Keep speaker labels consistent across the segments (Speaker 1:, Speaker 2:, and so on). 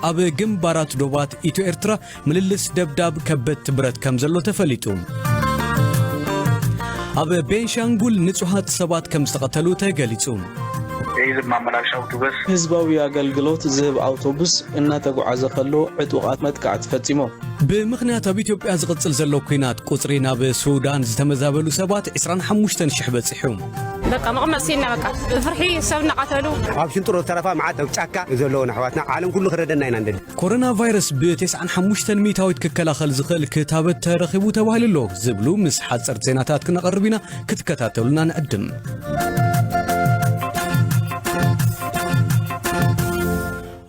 Speaker 1: ኣብ ግንባራት ዶባት ኢትዮ ኤርትራ ምልልስ ደብዳብ ከበድቲ ብረት ከም ዘሎ ተፈሊጡ ኣብ ቤንሻንጉል ንጹሃት ሰባት ከም ዝተቐተሉ ተገሊጹ የህዝብ
Speaker 2: ማመላለሻ ኣውቶቡስ ህዝባዊ ኣገልግሎት
Speaker 3: ዝህብ ኣውቶቡስ እናተጓዓዘ ከሎ ዕጡቓት መጥቃዕቲ ፈፂሞም። ብምኽንያት ኣብ
Speaker 1: ኢትዮጵያ ዝቕጽል ዘሎ ኲናት ቁጽሪ ናብ ሱዳን ዝተመዛበሉ ሰባት 25 ሽሕ በጺሑ። በቃ መቐመጥ ሲና በቃ ብፍርሒ ሰብ
Speaker 4: እናቐተሉ ኣብ ሽንጥሮ ዝተረፋ
Speaker 5: መዓት ኣብ ጫካ ዘለዎን ኣሕዋትና ዓለም ኩሉ ክረደና ኢና ንደሊ። ኮሮና ቫይረስ
Speaker 1: ብ95 ሚእታዊት ክከላኸል ዝኽእል ክታበት ተረኺቡ ተባሂሉ ኣሎ ዝብሉ ምስ ሓጸርቲ ዜናታት ክነቐርብ ኢና ክትከታተሉና ንዕድም።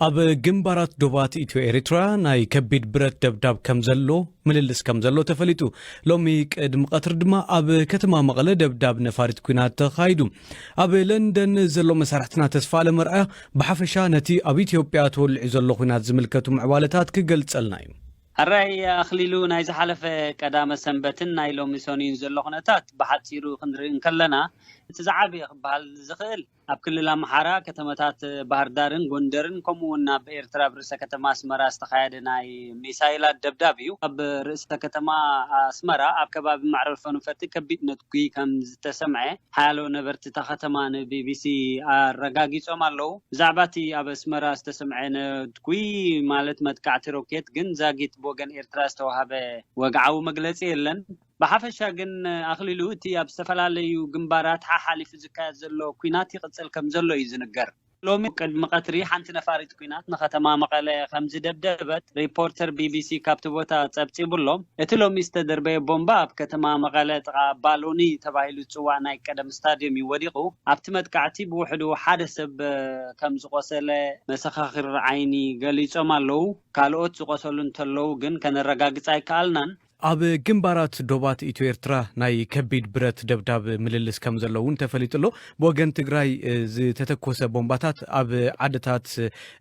Speaker 1: ኣብ ግንባራት ዶባት ኢትዮ ኤሪትራ ናይ ከቢድ ብረት ደብዳብ ከም ዘሎ ምልልስ ከም ዘሎ ተፈሊጡ። ሎሚ ቅድሚ ቀትሪ ድማ ኣብ ከተማ መቐለ ደብዳብ ነፋሪት ኩናት ተኻይዱ። ኣብ ለንደን ዘሎ መሳርሕትና ተስፋኣለም ኣርኣያ ብሓፈሻ ነቲ ኣብ ኢትዮጵያ ተወሊዑ ዘሎ ኩናት ዝምልከቱ ምዕባለታት ክገልጸልና እዩ። ኣራይ
Speaker 6: ኣኽሊሉ ናይ ዝሓለፈ ቀዳመ ሰንበትን ናይ ሎሚ ሰኑይን ዘሎ ኩነታት ብሓጺሩ ክንርኢ እንከለና እቲ ዝዓበየ ክበሃል ዝኽእል ኣብ ክልል ኣምሓራ ከተማታት ባህርዳርን ጎንደርን ከምኡ'ውን ኣብ ኤርትራ ኣብ ርእሰ ከተማ ኣስመራ ዝተኻየደ ናይ ሚሳይላት ደብዳብ እዩ። ኣብ ርእሰ ከተማ ኣስመራ ኣብ ከባቢ መዕረፎ ነፈርቲ ከቢድ ነትጒ ከም ዝተሰምዐ ሓያሎ ነበርቲ እታ ከተማ ንቢቢሲ ኣረጋጊጾም ኣለዉ። ብዛዕባ እቲ ኣብ ኣስመራ ዝተሰምዐ ነትጒ ማለት መጥቃዕቲ ሮኬት ግን ዛጊት ብወገን ኤርትራ ዝተዋህበ ወግዓዊ መግለጺ የለን። ብሓፈሻ ግን ኣኽሊሉ፣ እቲ ኣብ ዝተፈላለዩ ግንባራት ሓሓሊፉ ዝካየድ ዘሎ ኲናት ይቕጽል ከምዘሎ እዩ ዝንገር። ሎሚ ቅድሚ ቀትሪ ሓንቲ ነፋሪት ኲናት ንከተማ መቐለ ከምዝደብደበት ሪፖርተር ቢቢሲ ካብቲ ቦታ ጸብጺቡ'ሎ። እቲ ሎሚ ዝተደርበየ ቦምባ ኣብ ከተማ መቐለ ጥቓ ባሎኒ ተባሂሉ ዝጽዋዕ ናይ ቀደም ስታድዮም እዩ ወዲቑ። ኣብቲ መጥቃዕቲ ብውሕዱ ሓደ ሰብ ከምዝቖሰለ መሰኻኽር ዓይኒ ገሊጾም ኣለዉ። ካልኦት ዝቖሰሉ እንተለዉ ግን ከነረጋግጽ ኣይከኣልናን። ኣብ ግንባራት
Speaker 1: ዶባት ኢትዮ ኤርትራ ናይ ከቢድ ብረት ደብዳብ ምልልስ ከምዘሎ እውን ተፈሊጡ ኣሎ። ብወገን ትግራይ ዝተተኮሰ ቦምባታት ኣብ ዓድታት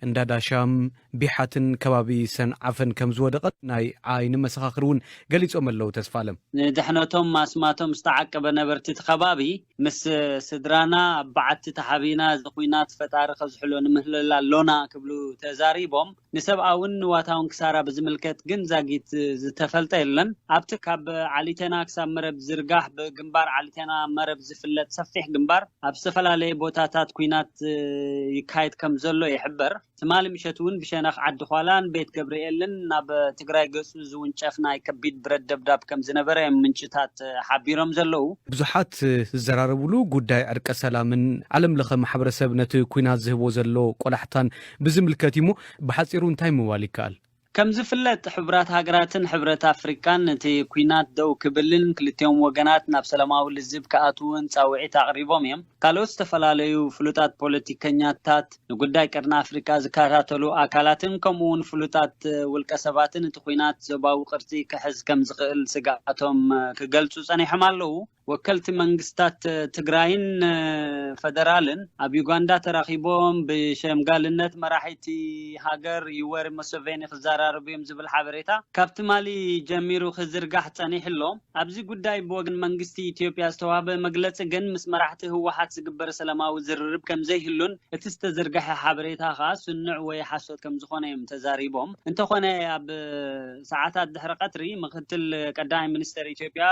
Speaker 1: እንዳዳሻም፣ ቢሓትን ከባቢ ሰንዓፈን ከምዝወደቐ ናይ ዓይኒ መሰኻኽር እውን ገሊፆም ኣለው። ተስፋኣለም። ንድሕነቶም
Speaker 6: ማስማቶም ዝተዓቀበ ነበርቲ እቲ ከባቢ ምስ ስድራና ኣብ በዓቲ ተሓቢእና እዚ ኹናት ፈጣሪ ከዝሕሎ ንምህለል ኣሎና ክብሉ ተዛሪቦም። ንሰብኣውን ንዋታውን ክሳራ ብዝምልከት ግን ዛጊት ዝተፈልጠ የለን። ኣብቲ ካብ ዓሊተና ክሳብ መረብ ዝርጋሕ ብግንባር ዓሊተና መረብ ዝፍለጥ ሰፊሕ ግንባር ኣብ ዝተፈላለየ ቦታታት ኲናት ይካየድ ከም ዘሎ ይሕበር። ትማሊ ምሸት'ውን ብሸነኽ ዓዲዃላን ቤት ገብርኤልን ናብ ትግራይ ገጹ ዝውንጨፍ ናይ ከቢድ ብረት ደብዳብ ከም ዝነበረ እዮም ምንጭታት ሓቢሮም ዘለዉ። ብዙሓት
Speaker 1: ዝዘራረብሉ ጉዳይ ዕርቀ ሰላምን ዓለምለኸ ማሕበረሰብ ነቲ ኲናት ዝህቦ ዘሎ ቆላሕታን ብዝምልከት እዩ እሞ ብሓጺሩ እንታይ ምባል ይከኣል? ከምዝፍለጥ
Speaker 6: ሕቡራት ሃገራትን ሕብረት ኣፍሪቃን ነቲ ኲናት ደው ክብልን ክልቲኦም ወገናት ናብ ሰላማዊ ልዝብ ክኣትዉን ጻውዒት ኣቕሪቦም እዮም። ካልኦት ዝተፈላለዩ ፍሉጣት ፖለቲከኛታት፣ ንጉዳይ ቀርኒ ኣፍሪቃ ዝከታተሉ ኣካላትን ከምኡ'ውን ፍሉጣት ውልቀሰባትን እቲ ኲናት ዞባዊ ቅርጺ ክሕዝ ከምዝኽእል ስግኣቶም ክገልጹ ጸኒሖም ኣለዉ። ወከልቲ መንግስታት ትግራይን ፈደራልን ኣብ ዩጋንዳ ተራኺቦም ብሸምጋልነት መራሒቲ ሃገር ዩወሪ ሙሰቬኒ ክዘራረቡ እዮም ዝብል ሓበሬታ ካብ ትማሊ ጀሚሩ ክዝርጋሕ ጸኒሑ ኣሎ። ኣብዚ ጉዳይ ብወገን መንግስቲ ኢትዮጵያ ዝተዋህበ መግለጺ ግን ምስ መራሕቲ ህወሓት ዝግበር ሰላማዊ ዝርርብ ከምዘይህሉን እቲ ዝተዘርገሐ ሓበሬታ ከኣ ስኑዕ ወይ ሓሶት ከምዝኾነ እዮም ተዛሪቦም። እንተኾነ ኣብ ሰዓታት ድሕሪ ቀትሪ ምክትል ቀዳማይ ሚኒስተር ኢትዮጵያ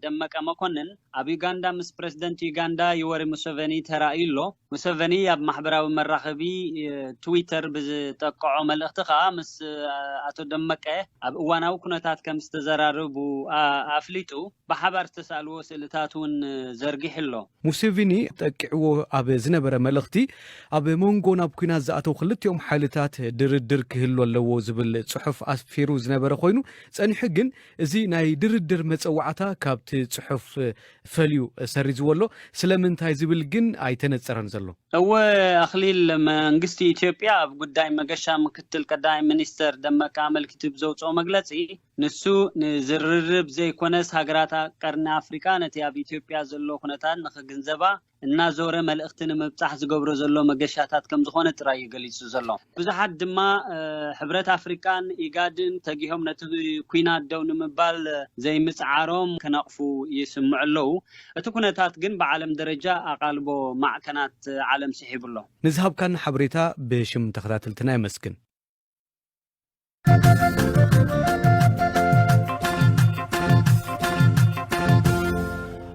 Speaker 6: ደመቀ መኮንን ኣብ ዩጋንዳ ምስ ፕረዚደንት ዩጋንዳ ዩወሪ ሙሰቨኒ ተራእዩ ኣሎ። ሙሰቨኒ ኣብ ማሕበራዊ መራኸቢ ትዊተር ብዝጠቅዖ መልእኽቲ ከኣ ምስ ኣቶ ደመቀ ኣብ እዋናዊ ኩነታት ከምዝተዘራረቡ ኣፍሊጡ። ብሓባር ዝተሳእልዎ ስእልታት እውን ዘርጊሑ ኣሎ። ሙሴቪኒ
Speaker 1: ጠቂዕዎ ኣብ ዝነበረ መልእኽቲ፣ ኣብ መንጎ ናብ ኲናት ዝኣተው ክልቲኦም ሓይልታት ድርድር ክህሉ ኣለዎ ዝብል ጽሑፍ ኣስፊሩ ዝነበረ ኮይኑ፣ ጸኒሑ ግን እዚ ናይ ድርድር መጸዋዕታ ካብቲ ጽሑፍ ፈልዩ ሰሪዝዎ ኣሎ። ስለምንታይ ዝብል ግን ኣይተነጸረን ዘሎ። እወ
Speaker 6: ኣኽሊል፣ መንግስቲ ኢትዮጵያ ኣብ ጉዳይ መገሻ ምክትል ቀዳማይ ሚኒስተር ደመቀ ኣመልኪቱ ብዘውጽኦ መግለጺ፣ ንሱ ንዝርርብ ዘይኮነስ ሃገራት ቀርኒ ኣፍሪቃ ነቲ ኣብ ኢትዮጵያ ዘሎ ኩነታት ንኽግንዘባ እናዞረ መልእኽቲ ንምብጻሕ ዝገብሮ ዘሎ መገሻታት ከምዝኾነ ጥራይ እዩ ገሊጹ ዘሎ። ብዙሓት ድማ ሕብረት ኣፍሪቃን ኢጋድን ተጊሆም ነቲ ኲናት ደው ንምባል ዘይምጽዓሮም ክነቕፉ ይስምዑ ኣለዉ። እቲ ኩነታት ግን ብዓለም ደረጃ ኣቓልቦ ማዕከናት ዓለም
Speaker 1: ስሒቡ ኣሎ። ንዝሃብካና ሓበሬታ ብሽም
Speaker 6: ተኸታተልትና
Speaker 1: የመስግን።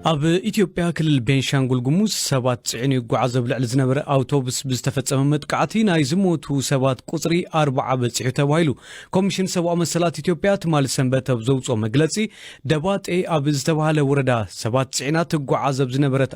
Speaker 1: ኣብ ኢትዮጵያ ክልል ቤንሻንጉል ጉሙዝ ሰባት ፅዕኑ ይጓዓዝ ኣብ ልዕሊ ዝነበረ ኣውቶቡስ ብዝተፈፀመ መጥቃዕቲ ናይ ዝሞቱ ሰባት ቁፅሪ ኣርባዓ በፂሑ ተባሂሉ ኮሚሽን ሰብኣዊ መሰላት ኢትዮጵያ ትማሊ ሰንበት ኣብ ዘውፅኦ መግለፂ ደባጤ ኣብ ዝተባሃለ ወረዳ ሰባት ፅዕና ትጓዓዝ ኣብ ዝነበረት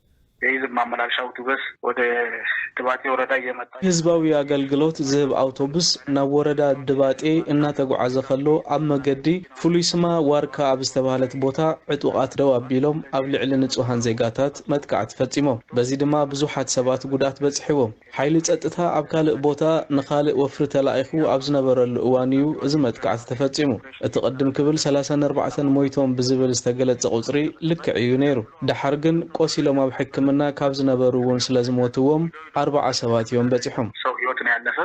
Speaker 1: የህዝብ
Speaker 2: ማመላለሻ ኣውቱበስ ወደ ድባጤ ወረዳ እየመጣ። ህዝባዊ ኣገልግሎት
Speaker 3: ዝህብ ኣውቶቡስ ናብ ወረዳ ድባጤ እናተጉዓዘ ከሎ ኣብ መገዲ ፍሉይ ስማ ዋርካ ኣብ ዝተብሃለት ቦታ ዕጡቓት ደው ኣቢሎም ኣብ ልዕሊ ንፁሃን ዜጋታት መጥቃዕቲ ፈፂሞም። በዚ ድማ ብዙሓት ሰባት ጉድኣት በፂሕዎም። ሓይሊ ጸጥታ ኣብ ካልእ ቦታ ንኻልእ ወፍሪ ተላኢኹ ኣብ ዝነበረሉ እዋን እዩ እዚ መጥቃዕቲ ተፈጺሙ። እቲ ቅድም ክብል ሰላሳን ኣርባዕተን ሞይቶም ብዝብል ዝተገለጸ ቁጽሪ ልክዕ እዩ ነይሩ። ደሓር ግን ቆሲሎም ኣብ ሕክምና ካብ ዝነበሩ እውን ስለዝሞትዎም ኣርባዓ ሰባት እዮም በጺሖም። ሰብ ህይወት ነው ያለፈ።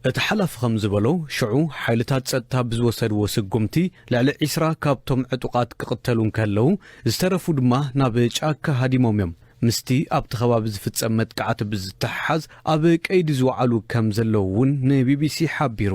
Speaker 2: እቲ ሓላፊ ከም
Speaker 1: ዝበሎ፣ ሽዑ ሓይልታት ጸጥታ ብዝወሰድዎ ስጉምቲ ልዕሊ ዒስራ ካብቶም ዕጡቓት ክቕተሉ እንከለዉ፣ ዝተረፉ ድማ ናብ ጫካ ሃዲሞም እዮም። ምስቲ ኣብቲ ከባቢ ዝፍጸም መጥቃዕቲ ብዝተሓሓዝ ኣብ ቀይዲ ዝወዓሉ ከም ዘለዉ እውን ንቢቢሲ ሓቢሩ።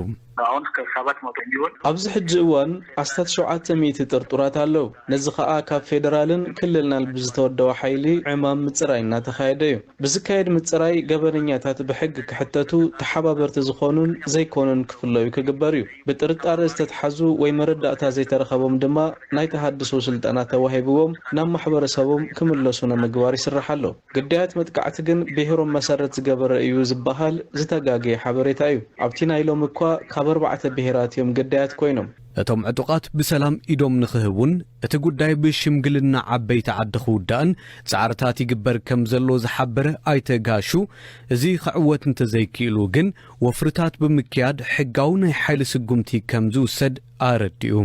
Speaker 2: ኣብዚ ሕጂ እዋን
Speaker 3: ኣስታት ሸውዓተ ሚእቲ ጥርጡራት ኣለዉ፣ ነዚ ከኣ ካብ ፌደራልን ክልልናል ብዝተወደበ ሓይሊ ዕማም ምጽራይ እናተኻየደ እዩ። ብዝካየድ ምጽራይ ገበነኛታት ብሕጊ ክሕተቱ፣ ተሓባበርቲ ዝኾኑን ዘይኮኑን ክፍለዩ ክግበር እዩ። ብጥርጣረ ዝተትሓዙ ወይ መረዳእታ ዘይተረኸቦም ድማ ናይ ተሃድሶ ስልጠና ተዋሂብዎም ናብ ማሕበረሰቦም ክምለሱ ንምግባር ይስራሕ ኣሎ። ግዳያት መጥቃዕቲ ግን ብሄሮም መሰረት ዝገበረ እዩ ዝበሃል ዝተጋገየ ሓበሬታ እዩ። ኣብቲ ናይ ሎሚ እኳ ካብ ኣርባዕተ ብሄራት እዮም ግዳያት ኮይኖም። እቶም ዕጡቓት ብሰላም ኢዶም ንኽህቡን እቲ ጉዳይ ብሽምግልና ዓበይቲ ዓዲ ክውዳእን ፃዕርታት ይግበር ከምዘሎ ዝሓበረ ኣይተ ጋሹ፣ እዚ ክዕወት እንተዘይክኢሉ ግን ወፍርታት ብምክያድ ሕጋዊ ናይ ሓይሊ ስጉምቲ ከምዝውሰድ ኣረዲኡ።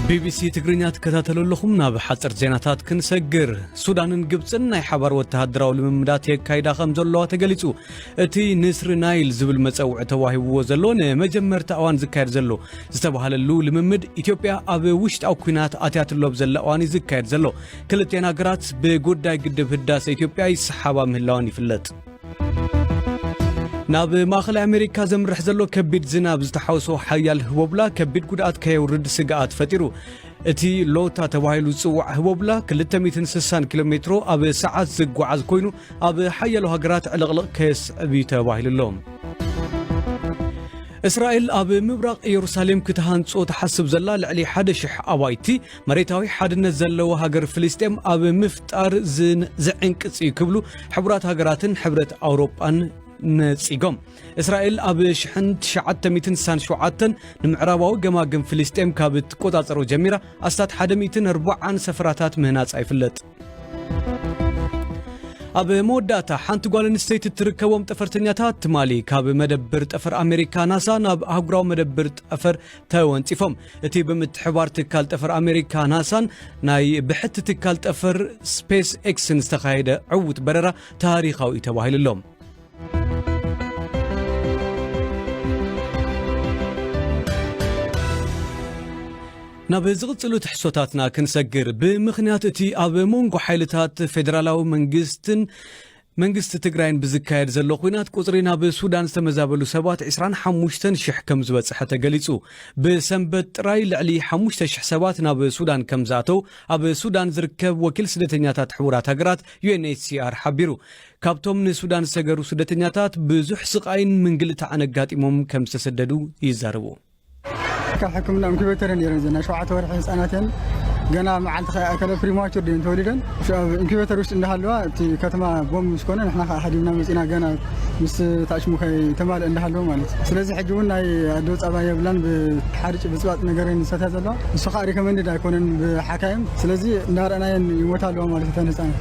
Speaker 3: ቢቢሲ ትግርኛ ትከታተሉ ኣለኹም ናብ ሓፅር ዜናታት ክንሰግር ሱዳንን ግብፅን ናይ ሓባር ወተሃደራዊ ልምምዳት የካይዳ ከም ዘለዋ ተገሊፁ እቲ ንስሪ ናይል ዝብል መጸውዒ ተዋሂብዎ ዘሎ ንመጀመርታ እዋን ዝካየድ ዘሎ ዝተባህለሉ ልምምድ ኢትዮጵያ ኣብ ውሽጣዊ ኩናት ኣትያትሎ ኣብ ዘላ እዋን እዩ ዝካየድ ዘሎ። ክልቴን ሃገራት ብጉዳይ ግድብ ህዳሰ ኢትዮጵያ ይሰሓባ ምህላወን ይፍለጥ። ናብ ማእኸላይ ኣሜሪካ ዘምርሕ ዘሎ ከቢድ ዝናብ ዝተሓውሶ ሓያል ህቦብላ ከቢድ ጉድኣት ከየውርድ ስግኣት ፈጢሩ። እቲ ሎታ ተባሂሉ ዝጽዋዕ ህቦብላ 260 ኪሎ ሜትሮ ኣብ ሰዓት ዝጓዓዝ ኮይኑ ኣብ ሓያሎ ሃገራት ዕልቕልቕ ከየስዕብ እዩ ተባሂሉ ኣሎ። እስራኤል ኣብ ምብራቕ ኢየሩሳሌም ክትሃንጾ ትሓስብ ዘላ ልዕሊ ሓደ ሽሕ ኣባይቲ መሬታዊ ሓድነት ዘለዎ ሃገር ፍልስጤም ኣብ ምፍጣር ዝዕንቅጽ እዩ ክብሉ ሕቡራት ሃገራትን ሕብረት ኣውሮጳን ነጺጎም እስራኤል ኣብ ሽሕን ትሽዓተ ሚእትን ስሳን ሸውዓተን ንምዕራባዊ ገማግም ፍልስጤም ካብ እትቆጻጸሮ ጀሚራ ኣስታት ሓደ ሚእትን ኣርባዓን ሰፈራታት ምህናጻ ይፍለጥ። ኣብ መወዳእታ ሓንቲ ጓል ኣንስተይቲ እትርከቦም ጠፈርተኛታት ትማሊ ካብ መደብር ጠፈር ኣሜሪካ ናሳ ናብ ኣህጉራዊ መደብር ጠፈር ተወንፂፎም እቲ ብምትሕባር ትካል ጠፈር ኣሜሪካ ናሳን ናይ ብሕቲ ትካል ጠፈር ስፔስ ኤክስን ዝተኻየደ ዕውት በረራ ታሪኻዊ እዩ ተባሂሉ ኣሎ ናብ ዝቕጽሉ ትሕሶታትና ክንሰግር ብምኽንያት እቲ ኣብ መንጎ ሓይልታት ፌደራላዊ መንግስትን መንግስቲ ትግራይን ብዝካየድ ዘሎ ኩናት ቁፅሪ ናብ ሱዳን ዝተመዛበሉ ሰባት 25 ሽሕ ከም ዝበፅሐ ተገሊፁ ብሰንበት ጥራይ ልዕሊ 5 ሽሕ ሰባት ናብ ሱዳን ከም ዝኣተው ኣብ ሱዳን ዝርከብ ወኪል ስደተኛታት ሕቡራት ሃገራት ዩኤንኤችሲኣር ሓቢሩ ካብቶም ንሱዳን ዝሰገሩ ስደተኛታት ብዙሕ ስቓይን ምንግልታዕን ኣጋጢሞም ከም ዝተሰደዱ ይዛረቡ። ትካል
Speaker 7: ሕክምና ኢንኩቤተር ነይረን እዘን ናይ ሸውዓተ ወርሒ ህፃናት እየን ገና መዓልቲ ከይኣከለ ፕሪማቹር ድየን ተወሊደን ሽዑ ኣብ ኢንኩቤተር ውሽጢ እንዳሃለዋ እቲ ከተማ ቦምብ ምስ ኮነ ንሕና ከዓ ሓዲምና መፂና ገና ምስ ታዕሽሙ ከይተማልእ እንዳሃለወ ማለት እዩ ስለዚ ሕጂ እውን ናይ ኣዶ ፃባ የብላን ብሓርጭ ብፅባፅ ነገር እየን ዝሰትያ ዘለዋ ንሱ ከዓ ሪኮመንድድ ኣይኮነን ብሓካይም ስለዚ እንዳረኣናየን ይሞታ ኣለዋ ማለት እተን ህፃናት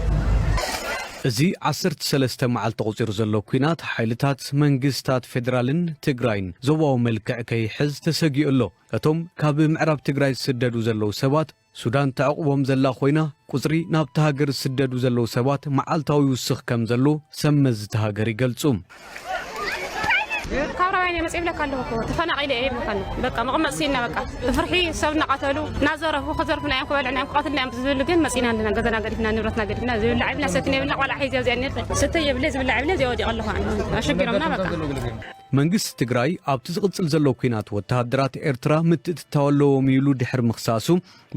Speaker 1: እዚ ዓሰርተ ሰለስተ መዓልቲ ኣቑጺሩ ዘሎ ኲናት ሓይልታት መንግስታት ፌደራልን ትግራይን ዞባዊ መልክዕ ከይሕዝ ተሰጊኡ ኣሎ። እቶም ካብ ምዕራብ ትግራይ ዝስደዱ ዘለዉ ሰባት ሱዳን ተዕቑቦም ዘላ ኮይና፣ ቁጽሪ ናብታ ሃገር ዝስደዱ ዘለዉ ሰባት መዓልታዊ ይውስኽ ከምዘሎ ሰብመዚ እታ ሃገር ይገልጹ።
Speaker 4: ካብ ራባይን እየ መፅእ ይብለካ ኣለኹ እኮ ተፈናቒለ እየ ይብለካኒ በቃ መቐመጥ ስኢንና በቃ ብፍርሒ ሰብ እናቐተሉ እናዘረፉ ክዘርፉና እዮም ክበልዕና እዮም ክቐትልና እዮም ዝብሉ ግን መፂና ኣለና ገዛና ገዲፍና ንብረትና ገዲፍና ዝብላዕ የብልና ሰትን የብልና ቆልዓ ሒዘ ኣብዚኣ ነር ስተ የብለ ዝብላዕ የብለ እዚኣ ወዲቐ ኣለኹ ኣሸጊሮምና በቃ መንግስቲ
Speaker 1: ትግራይ ኣብቲ ዝቕፅል ዘሎ ኲናት ወተሃደራት ኤርትራ ምትእትታው ኣለዎም ኢሉ ድሕሪ ምኽሳሱ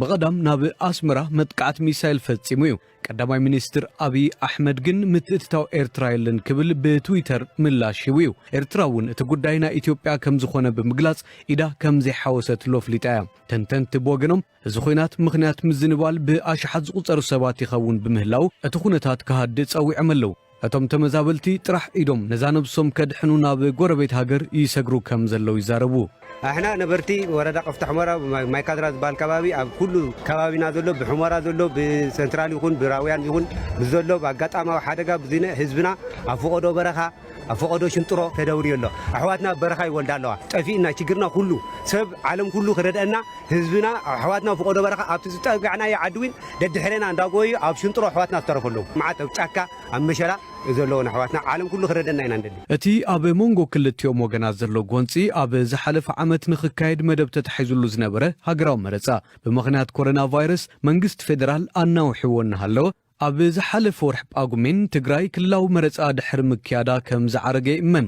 Speaker 1: ብቐዳም ናብ ኣስመራ መጥቃዕቲ ሚሳይል ፈጺሙ እዩ። ቀዳማይ ሚኒስትር ኣብይ ኣሕመድ ግን ምትእትታው ኤርትራ የለን ክብል ብትዊተር ምላሽ ሂቡ እዩ። ኤርትራ እውን እቲ ጉዳይ ናይ ኢትዮጵያ ከም ዝኾነ ብምግላጽ ኢዳ ከም ዘይሓወሰትሉ ኣፍሊጣ እያ። ተንተንቲ ብወገኖም እዚ ኹናት ምኽንያት ምዝንባል ብኣሽሓት ዝቑጸሩ ሰባት ይኸውን ብምህላዉ እቲ ኩነታት ክሃድእ ጸዊዖም ኣለዉ። እቶም ተመዛበልቲ ጥራሕ ኢዶም ነዛ ነብሶም ከድሕኑ ናብ ጎረቤት ሃገር ይሰግሩ ከም ዘለዉ ይዛረቡ። ኣሕና ነበርቲ
Speaker 5: ወረዳ ቀፍታ ሑመራ ማይ ካድራ ዝባሃል ከባቢ ኣብ ኩሉ ከባቢና ዘሎ ብሑመራ ዘሎ ብሰንትራል ይኹን ብራውያን ይኹን ብዘሎ ብኣጋጣማዊ ሓደጋ ብዝነ ህዝብና ኣብ ፎቆዶ በረኻ ኣብ ፎቆዶ ሽንጥሮ ተደውርዮ ኣሎ ኣሕዋትና ኣብ በረኻ ይወልዳ ኣለዋ ጠፊእና ችግርና ኩሉ ሰብ ዓለም ኩሉ ክረድኣና ህዝብና ኣሕዋትና ፍቆዶ በረኻ ኣብቲ ዝጠጋዕናዮ ዓዲ ውን ደድሕሬና እንዳጎየዩ ኣብ ሽንጥሮ ኣሕዋትና ዝተረፉ ኣለው መዓት ኣብ ጫካ ኣብ መሸላ ዘለውን ኣሕዋትና ዓለም ኩሉ ክረደና ኢና ንደሊ። እቲ ኣብ መንጎ
Speaker 1: ክልቲኦም ወገናት ዘሎ ጎንጺ ኣብ ዝሓለፈ ዓመት ንኽካየድ መደብ ተታሒዙሉ ዝነበረ ሃገራዊ መረጻ፣ ብምኽንያት ኮረና ቫይረስ መንግስቲ ፌደራል ኣናዊሕዎ እናሃለወ፣ ኣብ ዝሓለፈ ወርሒ ጳጉሜን፣ ትግራይ ክልላዊ መረጻ ድሕሪ ምክያዳ ከም ዝዓረገ ይእመን።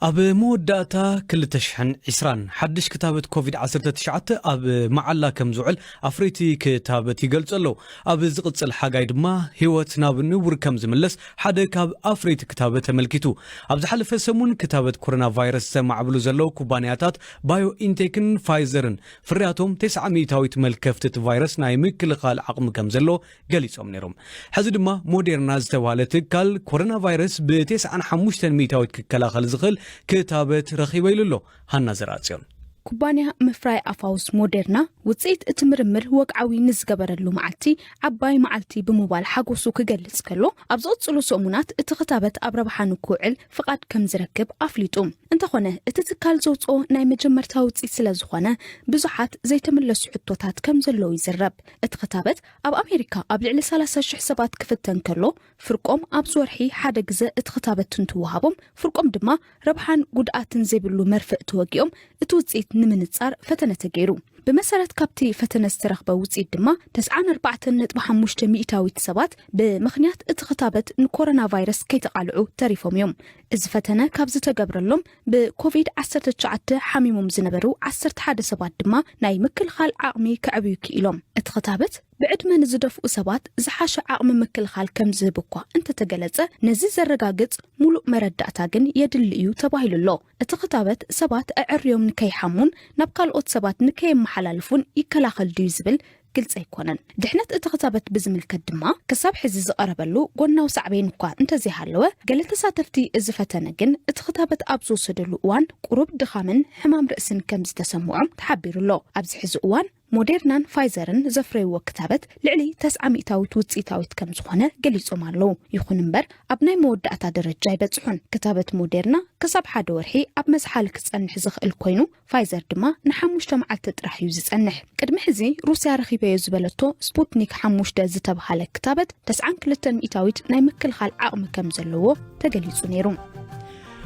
Speaker 1: ኣብ መወዳእታ ክልተ ሽሕን ዕስራን፣ ሓድሽ ክታበት ኮቪድ ዓሰርተ ትሽዓተ ኣብ መዓላ ከም ዝውዕል ኣፍረይቲ ክታበት ይገልጹ ኣለዉ። ኣብ ዝቕጽል ሓጋይ ድማ ህይወት ናብ ንቡር ከም ዝምለስ ሓደ ካብ ኣፍረይቲ ክታበት ኣመልኪቱ። ኣብ ዝሓለፈ ሰሙን ክታበት ኮሮናቫይረስ ዘማዕብሉ ዘለዉ ኩባንያታት ባዮኢንቴክን ፋይዘርን ፍርያቶም ተስዓ ሚእታዊት መልከፍቲ እቲ ቫይረስ ናይ ምክልኻል ዓቕሚ ከምዘሎ ገሊጾም ነይሮም። ሕዚ ድማ ሞዴርና ዝተብሃለ ትካል ኮረና ቫይረስ ብተስዓን ሓሙሽተን ሚእታዊት ክከላኸል ዝኽእል ክታበት ረኺበ ኢሉ ኣሎ። ሃና ዘርኣጽዮን። ኩባንያ
Speaker 8: ምፍራይ ኣፋውስ ሞዴርና ውጽኢት እቲ ምርምር ወግዓዊ ንዝገበረሉ መዓልቲ ዓባይ መዓልቲ ብምባል ሓጎሱ ክገልጽ ከሎ፣ ኣብ ዝቕጽሉ ሰሙናት እቲ ክታበት ኣብ ረብሓ ንክውዕል ፍቓድ ከም ዝረክብ ኣፍሊጡ። እንተኾነ እቲ ትካል ዘውጽኦ ናይ መጀመርታ ውጽኢት ስለ ዝኾነ ብዙሓት ዘይተመለሱ ሕቶታት ከም ዘለዉ ይዝረብ። እቲ ክታበት ኣብ ኣሜሪካ ኣብ ልዕሊ ሰላሳ ሽሕ ሰባት ክፍተን ከሎ፣ ፍርቆም ኣብዚ ወርሒ ሓደ ግዘ እቲ ክታበት እንትወሃቦም ፍርቆም ድማ ረብሓን ጉድኣትን ዘይብሉ መርፍእ ተወጊኦም እቲ ውፅኢት ንምንፃር ፈተነ ተገይሩ። ብመሰረት ካብቲ ፈተነ ዝተረኽበ ውፅኢት ድማ ተስዓን ኣርባዕተን ነጥቢ ሓሙሽተ ሚኢታዊት ሰባት ብምኽንያት እቲ ክታበት ንኮረና ቫይረስ ከይተቓልዑ ተሪፎም እዮም። እዚ ፈተነ ካብ ዝተገብረሎም ብኮቪድ ዓሰርተ ትሽዓተ ሓሚሞም ዝነበሩ ዓሰርተ ሓደ ሰባት ድማ ናይ ምክልኻል ዓቕሚ ከዕብዩ ክኢሎም። እቲ ክታበት ብዕድመ ንዝደፍኡ ሰባት ዝሓሸ ዓቕሚ ምክልኻል ከም ዝህብ እኳ እንተተገለጸ፣ ነዚ ዘረጋግጽ ሙሉእ መረዳእታ ግን የድሊ እዩ ተባሂሉ ኣሎ። እቲ ክታበት ሰባት ኣዐርዮም ንከይሓሙን ናብ ካልኦት ሰባት ንከየመሓላልፉን ይከላኸል ድዩ ዝብል ግልጺ ኣይኮነን። ድሕነት እቲ ክታበት ብዝምልከት ድማ ክሳብ ሕዚ ዝቐረበሉ ጎናዊ ሳዕቤን እኳ እንተዘይሃለወ፣ ገለ ተሳተፍቲ እዚ ፈተነ ግን እቲ ክታበት ኣብ ዝወሰደሉ እዋን ቁሩብ ድኻምን ሕማም ርእስን ከም ዝተሰምዖም ተሓቢሩ ኣሎ። ኣብዚ ሕዚ እዋን፣ ሞዴርናን ፋይዘርን ዘፍረይዎ ክታበት ልዕሊ ተስዓ ሚእታዊት ውፅኢታዊት ከም ዝኾነ ገሊፆም ኣለው። ይኹን እምበር ኣብ ናይ መወዳእታ ደረጃ ኣይበፅሑን። ክታበት ሞዴርና ክሳብ ሓደ ወርሒ ኣብ መዝሓሊ ክፀንሕ ዝኽእል ኮይኑ ፋይዘር ድማ ንሓሙሽተ መዓልቲ ጥራሕ እዩ ዝፀንሕ። ቅድሚ ሕዚ ሩስያ ረኺበዮ ዝበለቶ ስፑትኒክ ሓሙሽተ ዝተብሃለ ክታበት ተስዓን ክልተን ሚእታዊት ናይ ምክልኻል ዓቕሚ ከም ዘለዎ ተገሊፁ ነይሩ።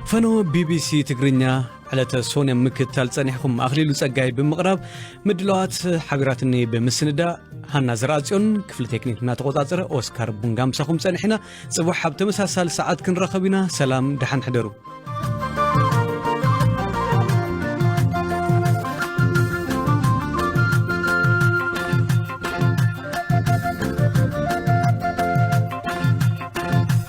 Speaker 8: ፈነወ
Speaker 1: ቢቢሲ ትግርኛ ዕለተ ሶን ኣብ ምክትታል ጸኒሕኩም ኣኽሊሉ ጸጋይ ብምቕራብ ምድላዋት ሓቢራትኒ ብምስንዳእ ሃና ዘርኣጽዮን ክፍሊ ቴክኒክ እናተቖጻጸረ ኦስካር ቡንጋ ምሳኹም ጸኒሕና ጽቡሕ ኣብ ተመሳሳሊ ሰዓት ክንረኸብ ኢና ሰላም ደሓን ሕደሩ